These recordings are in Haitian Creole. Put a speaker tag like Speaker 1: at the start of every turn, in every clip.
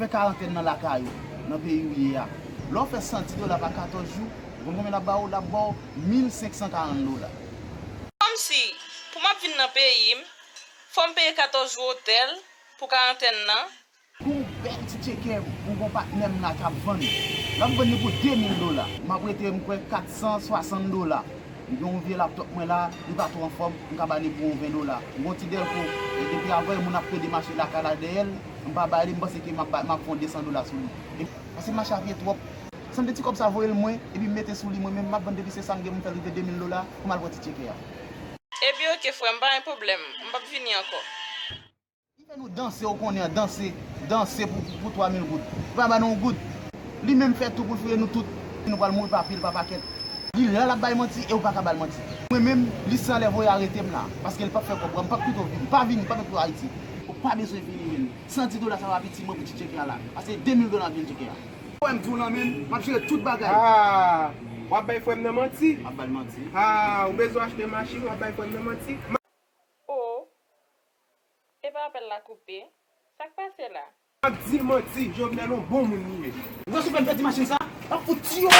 Speaker 1: Fè karantèn nan
Speaker 2: lakay ou, nan peyi ou ye a. Lè w fè 110 dola pa 14 jou, ou konn konbyen l ap ba ou? L ap ba w 1540 dola.
Speaker 1: Kòmsi, pou m ap vin nan peyi m, fò m peye 14 jou otèl pou karantèn nan? Gon w bèl
Speaker 2: ti tcheke pou gon patnè m la k ap vann. L ap vann li pou 2000 dola. M ap rete, m kwè, 460 dola. M gen yon vye laptòp mwen la, li pa twò anfòm, m ka ba li pou yon 20 dola. M gen yon ti dèlko, depi avanyè moun ap pede mache lakay la dèyè l. M pa ba li, m panse ke m ap fon 200 dola sou li. Paske mache a vye twòp. San de ti kòb sa voye l mwen, epi m mete sou li mwen menm, m ap vann depi se sa m gen pou m fè rive 2000 dola pou m al pran ti tyeke a. Epi
Speaker 1: ok frè m, pa gen pwoblèm, m p ap vini ankò. Li fè
Speaker 2: nou danse ou konnen an, danse, danse pou 3000 goud. Li pa ba nou yon goud. Li menm fè tou pou l fouye nou tout. Nou pral mouri pa pil, pa pakèt. Li la l ap bay manti e ou pa ka ba l manti. Mwen menm, li san lè voye arete m la, paske l p ap fè kòb. M p ap pito vini. Pa vini, pa met pou Ayiti. Ou pa bezwen vini menm. 110 dola sa va piti mwen pou ti tcheke a la. Pase 2000 dola bil tcheke a. Fò m di w lan menm, m ap jere tout bagay. Haa!
Speaker 3: W ap bay frè m nan manti? M ap ba l manti. Haa!
Speaker 2: Ou bezwen
Speaker 3: achte machin, w ap bay frè m nan manti?
Speaker 1: Oh! Epa apèl la koupe? Sa k pase la? Wap di manti
Speaker 3: jovenel on bon moun li ye. Mwen sou pwen pèdi machin
Speaker 2: sa, wap fout tiyonl.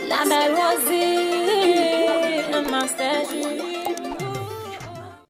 Speaker 4: La belle Rosie, un master Julie.